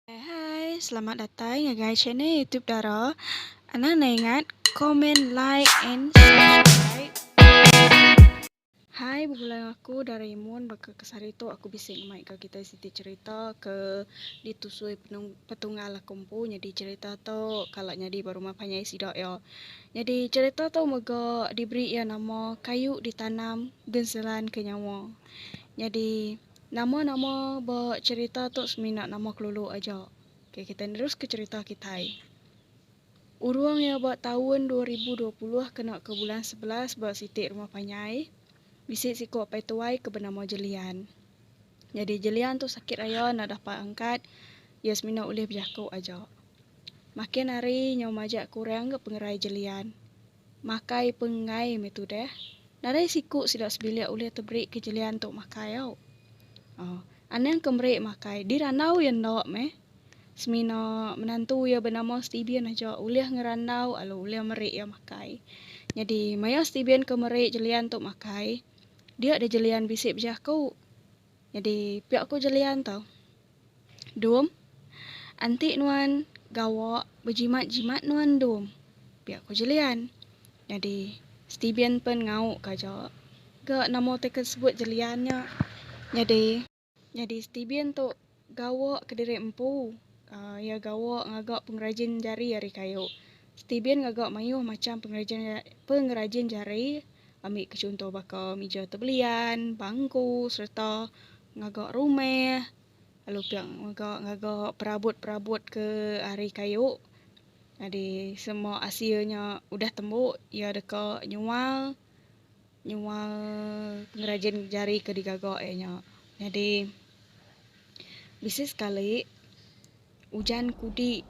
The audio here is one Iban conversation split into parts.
Hai hai selamat datai ngagai channel YouTube Dara anang ne ingat comment like and subscribe. Hai begulai enggau aku Dara Imun baka kesah hari tu aku bisi ngemai enggau kitai siti cerita ke ditusui petunggal aku empu nyadi cerita tu kala nyadi ba rumah panjai sida iya. Nyadi cerita tu mega diberi iya nama kayu ditanam genselan ke nyawa. Nyadi. Nama-nama ba cherita tu semina nama kelulu aja. Okey kitai neruska cherita kitai. Urung iya ba taun dua ribu dua puluh kena ke bulan sebelas ba siti rumah panyai bisi siko apai tuai ke benama Jelian. Nyadi Jelian tu sakit raya enda dapat angkat iya semina ulih bejako aja. Makin hari nyau majak kurang ga pengerai Jelian. Makai pengenggai meh tudah. Nadai siku sida sebilik ulih teberi ke jelian tu makai au. Oh, anang ke meri makai di randau iya enda meh. Semina menantu iya benama Stebian aja ulih ngerandau lalu ulih meri iya makai. Nyadi maya Stebian ke meri jelian tu makai, dia deh jelian bisi bejaku. Nyadi pia ku Jelian tu. Dum, Enti nuan gawa bejimat-jimat nuan dum, pia ku Jelian. Nyadi Stebian pen ngau ka aja ga nama teken sebut Jelian nya nyadi. Nyadi Stebian tu Gawa kediri empu. Iya gawa ngaga pengerajin jari ari kayu. Stibin ngaga mayuh macham pengerajin jari ami ke chunto baka mija tebelian, bangku sereta ngaga rumah lalu pia mega ngaga perabot-perabot ke ari kayu. Nyadi semua asil nya udah tembu iya deka nyual. Nyual pengerajin jari ke digaga iya nya nyadi bisi sekali ujan kudi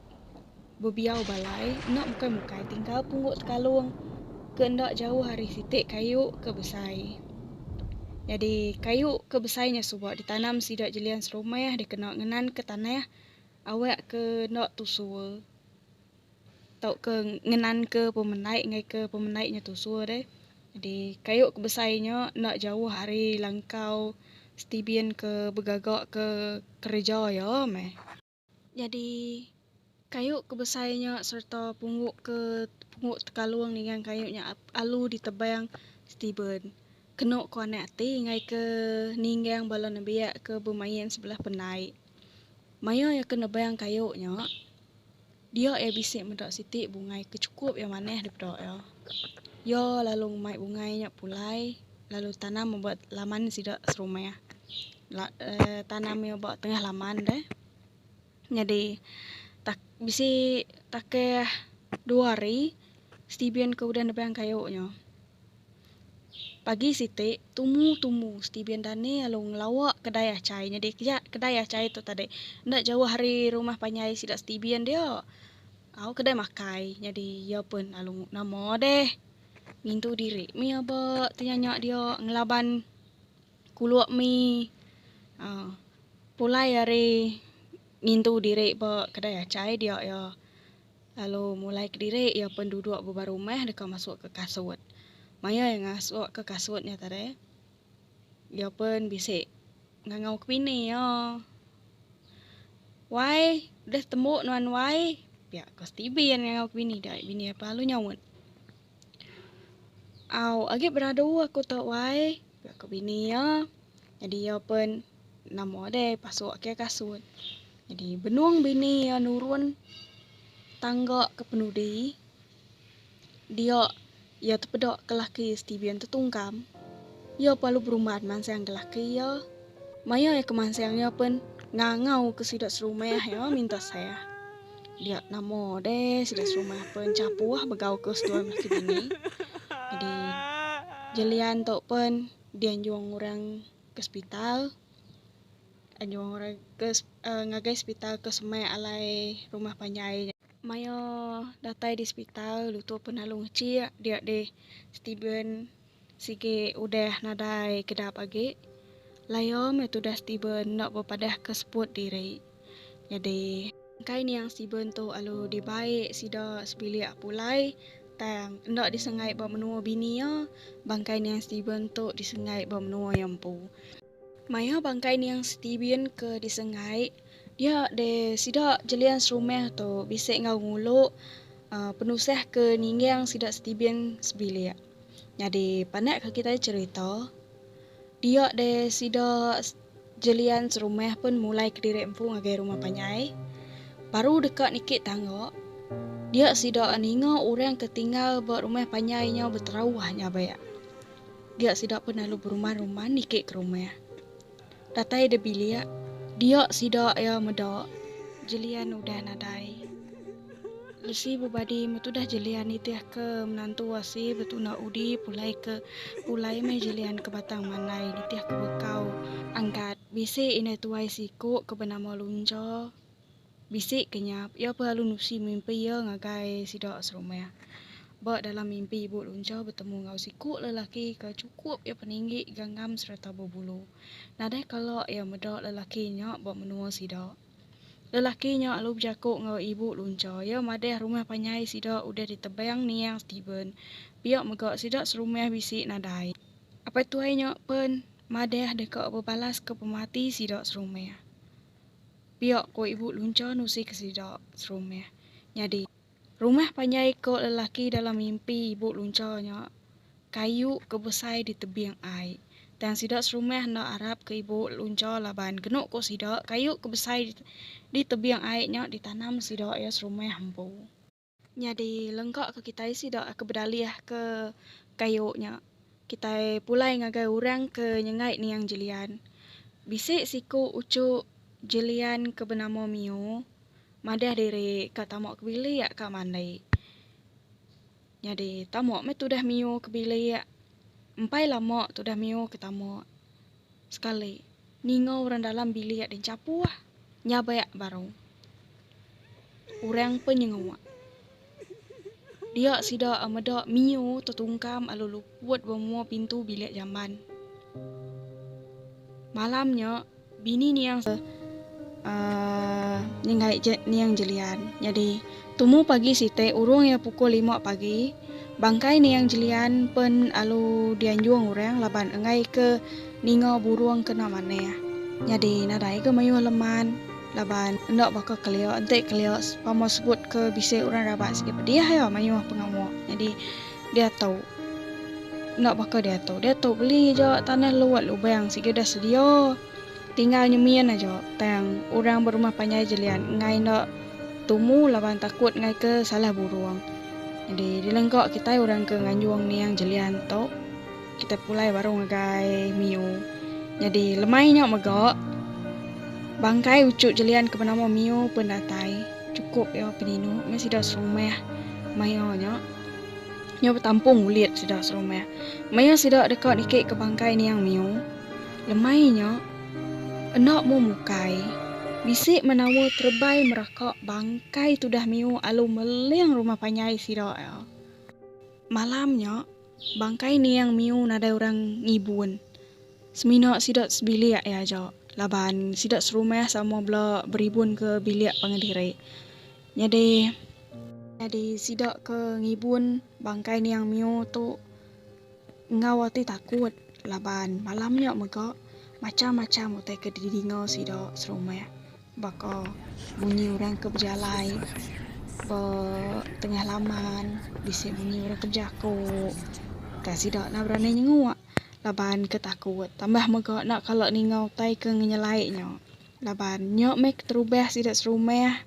bebiau balai enda mukai-mukai tinggal pungguk tekalung ke enda jauh ari siti kayu ke besai. Nyadi kayu ke besai nya suba ditanam sida jelian serumah dikena ngenanka tanah awakka enda tusur. tauka ngenanka pemendai ngaika pemendai nya tusur deh. Jadi kayu ke besai nya enda jauh ari langkau Stebian ke begaga ke kereja iya meh. Jadi kayu ke besai nya sereta punggu ke punggu tekalung ningang kayu nya alu ditebang Stebian kenu kuanai ati ngaika ningang bala nembiak ke bemain sebelah pendai. Maya iya ke nebang kayu nya. Dia iya bisi meda siti bungai ke chukup iya manah dipeda iya. Iya lalu ngemai bungai nya pulai lalu tanam iya ba laman sida serumah. La uhh tanam iya ba tengah laman deh. Nyadi tak bisi takeh dua hari Steven ke udah nebang kayu nya. Pagi siti, tumu tumu Steven Dani lalu ngelawa kedai achai nyadi ya kedai achai tu tadi enda jauh ari rumah panjai sida Steven dia. Au kedai makai nyadi iya pun lalu nama deh ngintu diri mih aba tenyanya dia ngelaban kulu mih aaa pulai ari ngintu diri ba kedai achai dia iya. Lalu mulai kediri iya penduduk bebara rumah deka masuk ke kasut. Maya iya ngasuk ke kasut nya tadi, iya pun bisi ngangau ke bini iya. Wai, deh tembu nuan wai. Pia ko STB iya ngangau ke bini dia, bini iya pelalu nyaut. Au, agi beradu aku tu wai. Aku bini iya. Nyadi iya pen nama deh pasuk ke kasut. Nyadi benung bini iya nurun tangga ke penudi. Dia iya tepeda ke laki Steven tetungkam. Iya pa lu berumban mansang ke laki iya. Maya iya kemansang iya pen ngangau ke sida serumah iya minta sah. Dia nama deh sida serumah pen chapuh begau ke seduai laki bini. Jadi Jelian tu pen dianjung orang ke sepital anjung orang ke uhh ngagai sepital ke semak alai rumah panjai nya. Maya datai di sepital lu tu pen lalu ngechik dia deh Steven. Sigi udah nadai kedap agi, Layo meh tudah Steven enda bepadahka seput diri. Nyadi. Engkai niang Steven tu alu dibai sida sebilik pulai tang enda disengai ba menua bini iya, bangkai niang Steven tu disengai ba menua iya empu. Maya bangkai niang Stephen ke disenggai, dia deh sida Jelian serumah tu bisi enggau ngulu penusah ke ninggang sida Stephen sebilik. Nyadi panak ke kitai cherita, dia deh sida Jelian serumah pun mulai kediri empu ngagai rumah panjai. Baru deka niki tangga, dia sida ninga orang ke tinggal ba rumah panjai nya beterauh nyabak. dia sida pun lalu beruman-ruman niki ke rumah. Datai de bilik, dia sida iya meda Jelian udah nadai. Lesi bebadi metudah Jelian nitih ke menantu asi betuna udi pulai ke pulai meh Jelian ke Batang Mandai nitih ke bekau angkat bisi indai tuai siku ke benama Luncha Bisi ke nya, pia pun lalu nusi mimpi iya ngagai sida serumah. Ba dalam mimpi ibu luncha betemu enggau siku lelaki ke chukup iya peninggi, ganggam sereta bebulu. Nadai kala iya meda lelaki nya ba menua sida. Lelaki nya lalu bejaku enggau ibu luncha iya madah rumah panjai sida udah ditebang niang Steven, pia mega sida serumah bisi nadai. Apai tuai nya pen madah deka bebalaska pemati sida serumah. Pia ko ibu luncha nusi ke sida serumah. Nyadi, rumah panjai ko lelaki dalam mimpi ibu luncha nya kayu ke besai di tebing ai. Tang sida serumah enda arap ke ibu luncha laban kenu ko sida kayu ke besai di tebing ai nya ditanam sida iya serumah empu. Nyadi lengka ke kitai sida ke bedalih ke kayu nya, kitai pulai ngagai orang ke nyengai niang Jilian. Bisi siku uchu Jilian ke benama Miu madah diri ka tama ke bilik ka mandi. Nyadi tama meh tudah Miu ke bilik. Empai lama tudah Miu ke tama. Sekali, ninga orang dalam bilik ada nchapuh, nyabeak baru. Orang pe nyenguk. Dia sida meda Mio tetungkam lalu luput ba mua pintu bilik jamban. Malam nya, bini Niang. Aa, nyenggaik je Niang Jelian. Nyadi. Tumu pagi siti urung iya pukul lima pagi, bangkai Niang Jelian pen alu dianjung orang laban enggai ke ninga burung kena manah. Nyadi nadai ke mayuh leman laban enda baka kelia enti kelia pama sebut ke bisi orang raban sigi pedih iya mayuh pengawa nyadi diatu enda baka diatu. Diatu beli aja tanah luat lubang sigi udah sedia. Tinggal nyemin aja tang orang berumah panjai jelian enggai enda tumu laban takut ngaika salah burung. Nyadi dilengka kitai orang ke nganjung niang jelian tu kitai pulai baru ngagai Miu. Nyadi lemai nya mega bangkai uchu jelian ke benama Miu pun datai chukup iya peninu meh sida serumah maya nya. Iya betampung ulit sida serumah. Maya sida deka nikika bangkai niang Miu. Lemai nya, enda mu mukai, bisi menawa terebai meraka bangkai tudah miu alu meling rumah panjai sida iya. Malam nya, bangkai Niang miu nadai orang ngibun. Semina sida sebilik iya aja laban sida serumah sama bela beribun ke bilik pangan diri. Nyadi. Nyadi sida ke ngibun bangkai Niang miu tu. enggau ati takut laban malam nya mega macham-macham utai ke didinga sida serumah baka bunyi orang ke bejalai ba tengah laman bisi bunyi orang ke bejaku utai sida enda berani nyenguk laban ke takut tambah mega enda kala ninga utai ke nyelai nya laban nya meh keterubah sida serumah.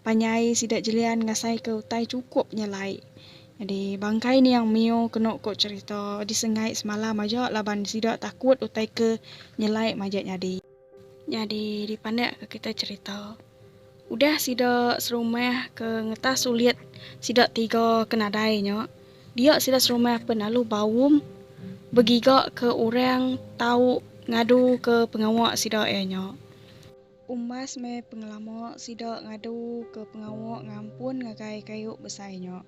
Panjai sida Jelian ngasaika utai chukup nyelai. Nyadi, bangkai niang Mio kenu ko cherita disenggai semalam aja laban sida takut utai ke nyelai majak nyadi. Nyadi, dipandakka kita cherita. Udah sida serumah ke ngetah sulit sida tiga ke nadai nya, dia sida serumah pen lalu baum begiga ke orang tau ngadu ke pengawa sida iya nya. Umbas meh pengelama sida ngadu ke pengawa ngampun ngagai kayu besai nya,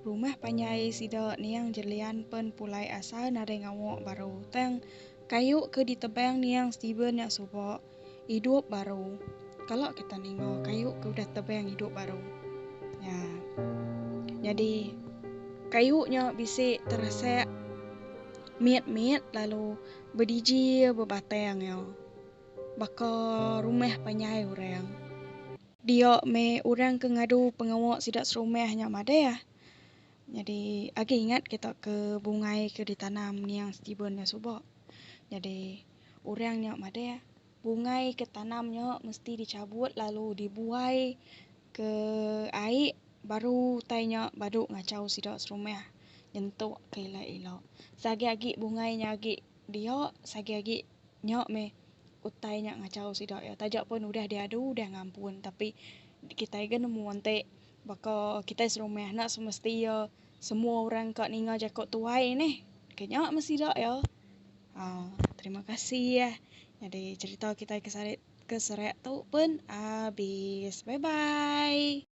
rumah panjai sida niang Jelian pen pulai asa nadai ngawa baru tang kayu ke ditebang niang Steven nya suba idup baru. Kala kita ninga kayu ke udah tebang idup baru nya nyadi kayu nya bisi terasak mit-mit lalu bediji bebatang iya. Baka rumah panjai orang. Dia meh orang ke ngadu pengawa sida serumah nya madah. Nyadi agi ingat kita ke bungai ke ditanam niang Steven nya suba. Nyadi orang nya madah bungai ke tanam nya mesti dichabut lalu dibuai ke ai baru utai nya badu ngachau sida serumah nyentuk ke ila-ila. Seagi agi bungai nya agi dia sagi agi. Nya meh utai nya ngachau sida iya taja pun udah diadu udah ngampun tapi kitai ga nemu enti baka kitai serumah enda semesti iya semua orang ka ninga jaku tuai neh ke nya meh sida iya aa terima kasih nyadi cerita kitai ke sari ke serak tu pun abis bye bye.